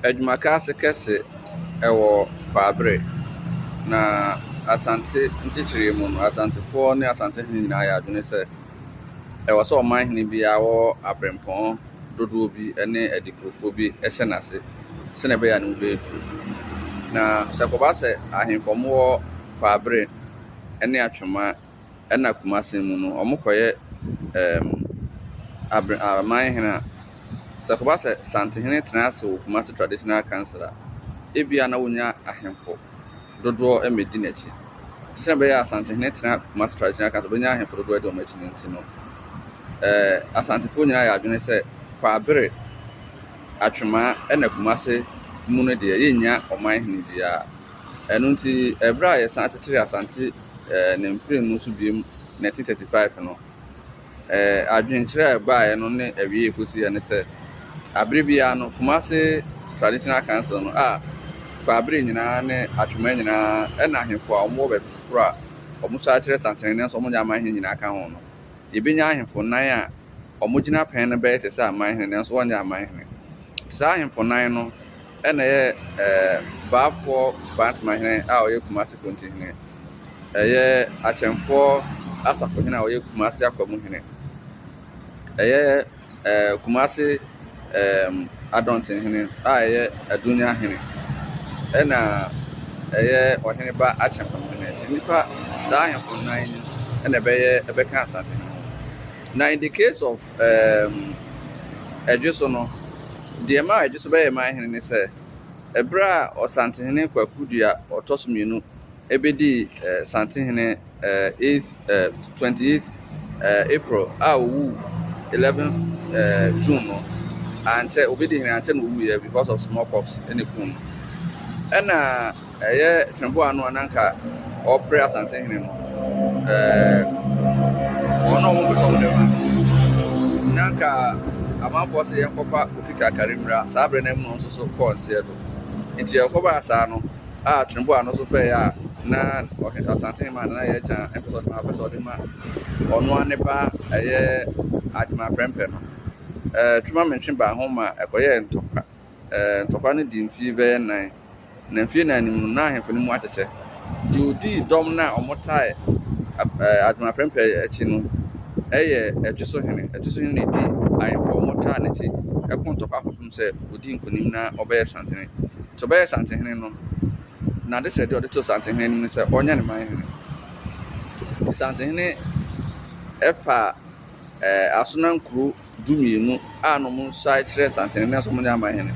Adwumakɛse kɛse wɔ Baabre. Na Asante nkyekyeree mu no, Asantefoɔ ne Asantehene nyinaa yɛ adwene sɛ ɛwɔ sɛ ɔmanhene biara wɔ abrempɔn dodoɔ bi ne adikurofoɔ bi hyɛ n'ase sɛdeɛ ɛbɛyɛ a ne ho bɛtu. Na sɛ ɛkɔba sɛ ahemfo a wɔwɔ Baabre ne Atwema. ɛna Kumase mu no, wɔkɔyɛ ɛɛm abre aman hene a, sɛ ɛkɔba sɛ Santehene tena ase wɔ Kumase Traditional Council a, ebia na wɔnya ahemfo dodoɔ mmɛdi n'akyi. Sɛnea ɛbɛyɛ a Santehene tena Kumase Traditional Council a, ɔbɛnya ahemfo dodoɔ adi wɔn akyi no nti no, ɛɛ Asantefoɔ nyinaa yɛ adwene sɛ Kwabere, Atwemaa ɛna Kumase mu no deɛ, yɛnnya ɔman hene biara. Ɛno nti, ɛberɛ a yɛsan kyekyeree Asante ɛɛ ne mprenu nso biom na ɛte thirty five no. Ɛɛ adwenkyerɛ a ɛbaeɛ no ne awiei kɔsiiɛ ne sɛ, abere biara no, Kumasi Traditional Council no a Kwaabere nyinaa ne Atwema nyinaa ɛna ahemfo a wɔwɔ baabi foforɔ a wɔsan kyerɛ tantenene nso wɔnyɛ amanhene nyinaa ka ho no, yɛbɛnya ahemfo nnan a wɔgyina pɛn no bɛyɛ te sɛ amanhene nanso wɔnyɛ amanhene. Saa ahemfo nnan no. Ɛna ɛyɛ Baafoɔ Bantemahene a ɔyɛ Kumase Kontihene, ɛyɛ Akyɛmfoɔ Asafohene a ɔyɛ Kumase Akwamuhene, ɛyɛ Kumase Adɔntenhene a ɛyɛ Adunyahene, ɛna ɛyɛ Ɔheneba Akyɛmpamuhene. Nti nnipa, saa ahemfo nnan yi na ɛbɛyɛ, ɛbɛka Asantehene ho. Na in the case of. ɛdwe so no, deɛ ɛma ɛdwe so bɛyɛ man hene ne sɛ, ɛberɛ a Ɔsantehene Kwaku Dua ɔtɔ so mmienu bɛdii Santehene 28th April a ɔwuu 11th June no, ankyɛ, ɔbɛdii hene ankyɛ na ɔwuiɛ because of small pox na ɛkum no. Ɛna. Ɛyɛ Tweboa no a na anka ɔrepere Asantehene no. Wɔn a wɔpɛ sɛ wɔn nneɛma no, na anka amanfoɔ sɛ yɛnkɔfa Kofi Kakari mmra. Saa berɛ no mu no nso so kɔɔ nseɛ do. Nti ɛkɔbaa saa no a Tweboa no nso pɛeɛ a na Asantehene ma Nana Yɛkya mpɛ sɛ ɔde ma, ɔpɛ sɛ ɔde ma ɔno ara ne ba ɛyɛ Agyema Prɛmpɛ no. Twema Mentwe baa ho ma ɛkɔyɛɛ ntɔkwa. Ntɔkwa no dii mfeɛ bɛyɛ nnan. Na mfe nnan no mu no, na ahemfo no mu akyekyɛ. Deɛ ɔdii dɔm no a wɔtae Adom Aperempere akyi no yɛ Ɛtweso Hene. Ɛtweso Hene no dii ahemfo a wɔtaa no akyi ko ntɔkwa kɔpem sɛ ɔdii nkonim na ɔbɛyɛɛ Santehene. Nti ɔbɛyɛɛ Santehene no, n'adesrɛdeɛ a ɔde too Santehene anim ne sɛ ɔnyɛ ne man hene. Nti Santehene paa Asonankuro dumienu a na wɔsae kyerɛ Santenene sɛ wɔnyɛ amanhene,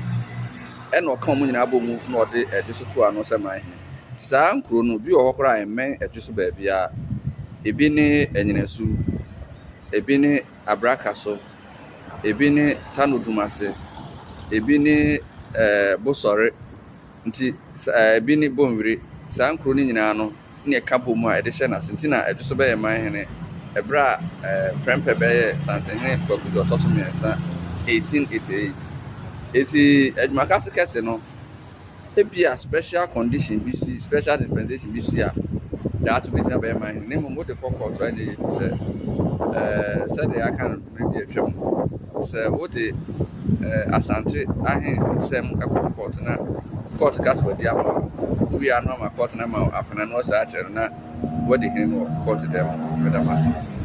ɛnna ɔka wɔn nyinaa bɔɔ mu na ɔde ɛdwe so too ano sɛ manhene. Saa nkuro no, bi wɔ hɔ koraa a ɛmmɛn ɛdwe so baabiara. Ebi ne Anyinasu, ebi ne Abrakaso, ebi ne Tano Dumase, ebi ne ɛɛ Bosɔre, Nti sa a ɛbi ne Bonwire, saa nkuro no nyinaa no ne ɛka bɔ mu a ɛde hyɛ n'ase nti na Adwoso bɛyɛ man hene ɛberɛ a Prɛmpɛ bɛyɛ Santenhene Kwaku deɛ ɔtɔ so mmiɛnsa 1888. Enti Adwumakase kɛse no, ebia special condition bi si, special dispensation bi si a Daakye bɛtumi abɛyɛ man hene na mmom wode kɔ kɔɔto a ɛnyɛ yie efiri sɛ ɛɛ sɛdeɛ yɛaka no. bere bi a atwam. Sɛ wode Asante Ahene nsɛm kɔ kɔɔto na kɔɔto ka sɛ wɔadi ama wo a, wowie a na wɔama kɔɔto no ama wo afenaa na wɔsan akyerɛ no na woadi hene no wɔ kɔɔto dan mu. Meda mo ase.